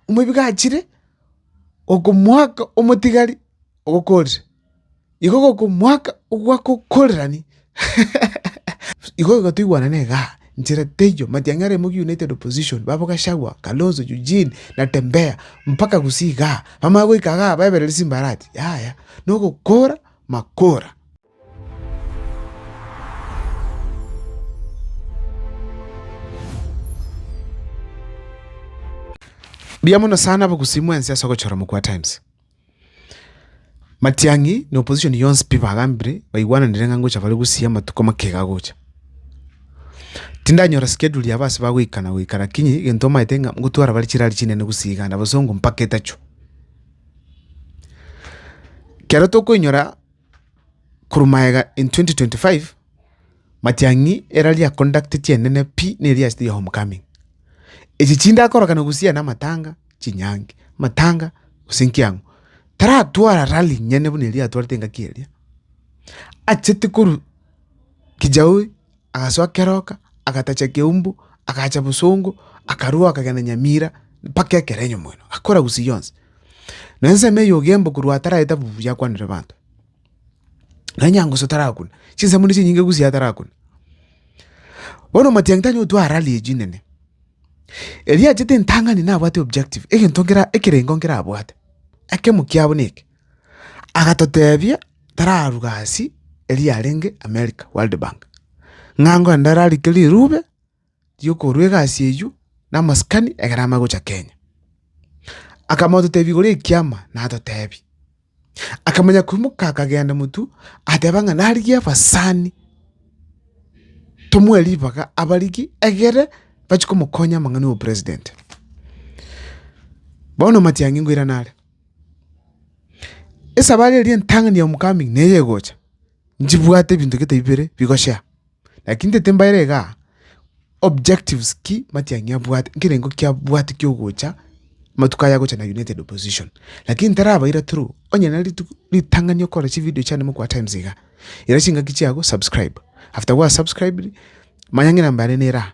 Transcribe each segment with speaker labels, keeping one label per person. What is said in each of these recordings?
Speaker 1: omoibeke achire okomoaka omotigari ogokorire, igo ogokomoaka ogwakokorerani igo igo toigwanane igaa, nchera teiyo, matiang'i are Mugi United Opposition, babo Gachagua, Kalonzo, Eugene, Natembeya, mpaka gusii igaa, bamanye goika igaa baeberere chimbarati, yaya, nogokora makora. Mbuya mono sana abagusii mwensi ase ogochora Mokua Times. Matiang'i na opposition yonsi pi bagambire baigwananire ng'a ngocha bare gusii amatuko make iga agocha. Tindanyora schedule yabo ase bagoika na goika lakini egento omanyete ng'a ngotwara bare chirari chinene gusii iga na bosongo mpaka etachu. Kero tokoinyora. Korwa magega in 2025, matiang'i era ria conduct chienene pi neria ase the homecoming. Echi chindakorokana gusiyana amatanga, chinyangi, amatanga gose nkiang'u. Taratwara rally nyene buna eria atwarete engaki eria. Achete korwa kijauri. Agasoa keroka, agatacha ekeumbu, agaacha bosongo, akarua akagenda Nyamira mpaka ekero enyomoino, agakora gusii yonsi. Na ensemo eye ogemba korwa ataragete abwo yakwanire abanto. Naye Nyangusu tarakuna, chinsemo nigo chinyinge gusii atarakuna. Bono omatianyi tanyara gotwa aa rally echi nene, erio achete entang'ani nabwate objective, egento nkere ekerengo nkere abwate, ekemo kiabo neke. Agatotebia tararuga hassi eria yarenge America World Bank, ng'a ngoende ararike rirube riokorwa egasi eywo na amasikani ekero amare gocha Kenya. Akamototebia igoro ekiama natotebia, akamanya koimoka akagenda motwe ateba ng'a narigie abasani tomoe ribaga abarigie egere bachie komokonya amang'ana ya obopresident. Bono matiang'i nkoirana are. Esabari eria entang'ani am coming neye egocha, nchibwate ebinto gete bibere bigochia, lakini ntete mbaere igaa objectives ki matiang'i abwate, nkerengo ki abwate kia ogocha amatuko aya agocha na united opposition. Lakini ntarabaira through, onye na rituko ritang'ani okore chividio chiane mogokwa times iga, ira chingaki chiago subscribe, after gwa subscribed, manya ng'ina mbare nera.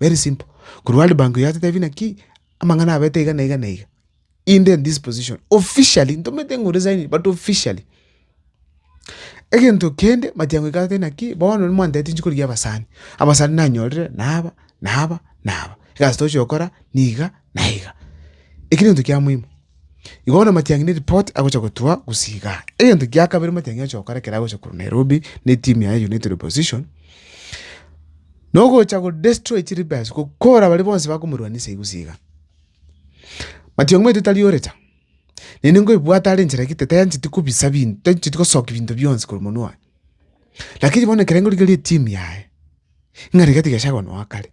Speaker 1: very simple korwa world bank yatotebia naki amang'ana abeto iga na iga na iga inde in this position officially ntomanyete ng'a oresigning but officially. Egento kende matiang'u iga agateba naki bono nimwanteteti nchi korigia abasani, abasani nanyorire na aba na aba na aba egasi tochi gokora niga. Naiga. Eki negento kia moimo. Igo bono Matiang'i ne report agocha gotwa gose igaa. Egento kia kabere Matiang'i agocha gokora ekero agocha korwa Nairobi ne team yaye ya United Opposition, nogocha go destroy chiri base, gokora baria bonsi bakomorwanisa igwe gose igaa. Matiang'i omanyete tari ore cha. Naende nkoebwate are enchera egete tancheti kobisa binto, tancheti gosoki binto bionsi korwa monwa one. Lakini bono ekero nkorigeri eteam yaye, ng'a rigatige Gachagua noa kare.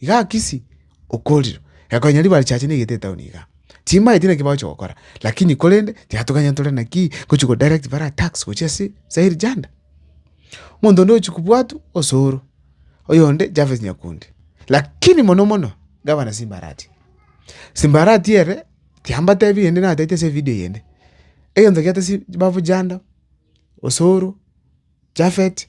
Speaker 1: Iga Akisi okorirwe, ekonyaa ribaare chiaye chineegete etaoni igaa. Timanyeti naki bagochia gokora, lakini korende tiatoganya ntore nakii gochia go direct bare attacks gochia ase eri janda. Omonto onde ochia kobwatwa osoro, oyonde Javes Nyakundi. Lakini mono mono, Gavana Simba Arati, Simba Arati ere, tiambatebi rende natete ase evideo eyende, egento kiatesigete babu janda, osoro, Japhet,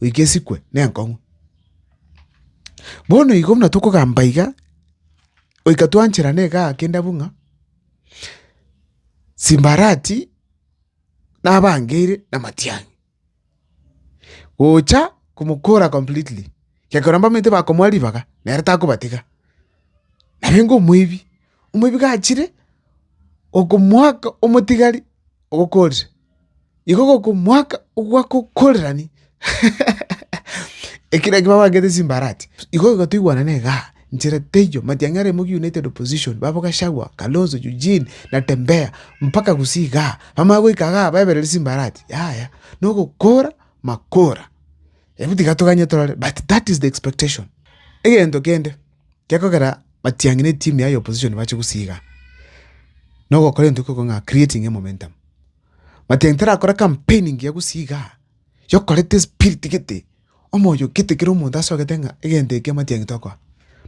Speaker 1: goika esikwe nenkong'u. Bono igo buna tokogamba iga, goika twancherana igaa kende abwo ng'a, Simbarati nabangeire na matiang'i, gocha komokora completely, gekorwa mbamanyete bakomoa ribaga nere takobatiga, naye ngomoibi. Omoibeke achire okomoaka omotigari ogokoorire, iko gokomoaka ogwakokoorerani, ekero ekio babangete chimbarati, igo igo toigwanane igaa, nchera teiyo, matiang'i are Mugi United Opposition, babo Gachagua, Kalonzo, Eugene, Natembeya, mpaka gusii igaa, bamanye goika igaa baeberere chimbarati, yaya, na ogokoora makoora. Ebu tiga toganye torore but that is the expectation. Egento kende. Gekogera batiang'i ne team yaye opposition bache gosiiga na ogokora egento ekekorwa ng'a creating a momentum. Matiang'i tarakore campaign engiya gosiiga yokoreta espirit gete, omoyo gete kera omonto ase ogete ng'a egento eke matiang'i tokora.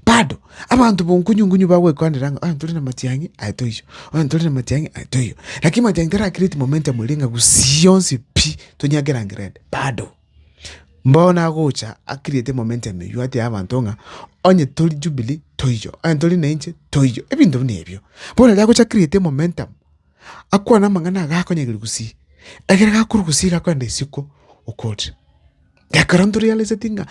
Speaker 1: Bado, abanto bo nkunyu nkunyu bagwekwanera ng'a ntore na matiang'i aye toiyo, oye ntore na matiang'i aye toiyo. Lakini matiang'i tara create momentum eria ng'a gusii onsi pi, tonyagera ngerendi, bado. Bono agocha akirete momenta emeyio atebia abanto ng'a onye tori Jubilee toiyo, onye tori na inche toiyo, ebinto buna ebio. Bono riria agocha akirete momentum, akwane amang'ana iga akonyegeria gusii, ekero gakorwa gusii iga akorenda isiko okotire. Ekero ntorialiseti ng'a.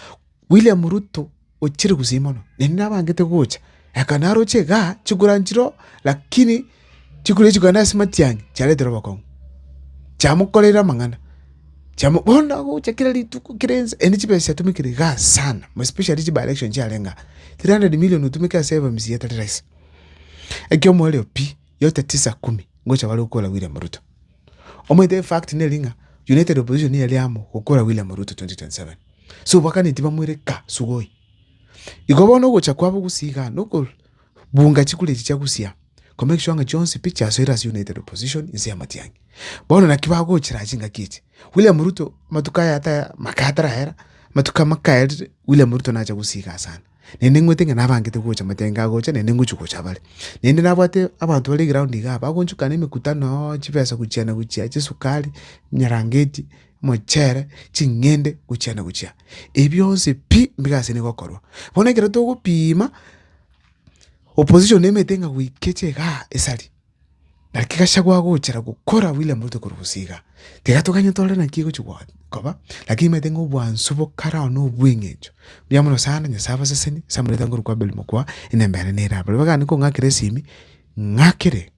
Speaker 1: William Ruto ochire gusii mono, naende nabangete gocha, eka naroche igaa chikura nchiroo, lakini chikura echi kogenda ase matiang'i chiaretire obokong'u, chiamokoreire amang'ana, chiamo bono agocha kera rituko kera ense naende chibesa chiatomekire igaa sana more especially chi by election chiarenge aa, three hundred million otumeke ase FMC tari rahisi. Ekiomoerio pi, yote tisa kumi, ngocha bare gokora William Ruto. Omanyete in fact neri ng'a united opposition niyo ere amo gokora William Ruto 2027. So bakane tibamoire ka sugoi. Igo bono ogocha kwabo gusii igaa noko bunga chikura echi chia gusia ko make sure ng'a chionsi pi chiasoire ase united opposition inse y'amatiang'i. Bono naki bagochera chingaki echi. William Ruto amatuko aye ataya amaka atarahera amatuko amaka aye William Ruto nacha gusii igaa sana. naende ng'wete ng'a nabangete gocha matenga agocha naende ngochia gocha bare. Naende nabwate abanto bare eground igaa bagonchukana emekutano, chibesa gochiana gochia, chisukari, emerangeti, omochere, ching'ende, gochiana gochia. Ebi bionsi pi mbibe ase nigo okorwa. Bono ekero togopima, opposition emete ng'a goika eche igaa esari. Naki Gachagua agochera gokora William Ruto korwa gose iga, tigatoganye tore naki egochia gwa- koba, lakini maete ng'a obwansu bokare ao na obweng'encho buya mono sana, Nyasae abasesenie ase amareta ngoru kwa Abel mokwa, enyomba yane nere aa. Baria bagane kong'akera esimi, ng'akere,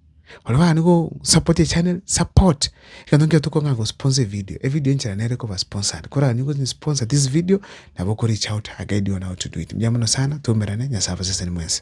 Speaker 1: baria bagane go support echannel, support, egento nkio tokong'aka go sponsor evideo, evideo enchera nere koba sponsored, korang'ani gose sponsor this video, nabo oko reach out, I guide you on how to do it. Mbuya mono sana, twaumerane, Nyasae abasesenie mwensi.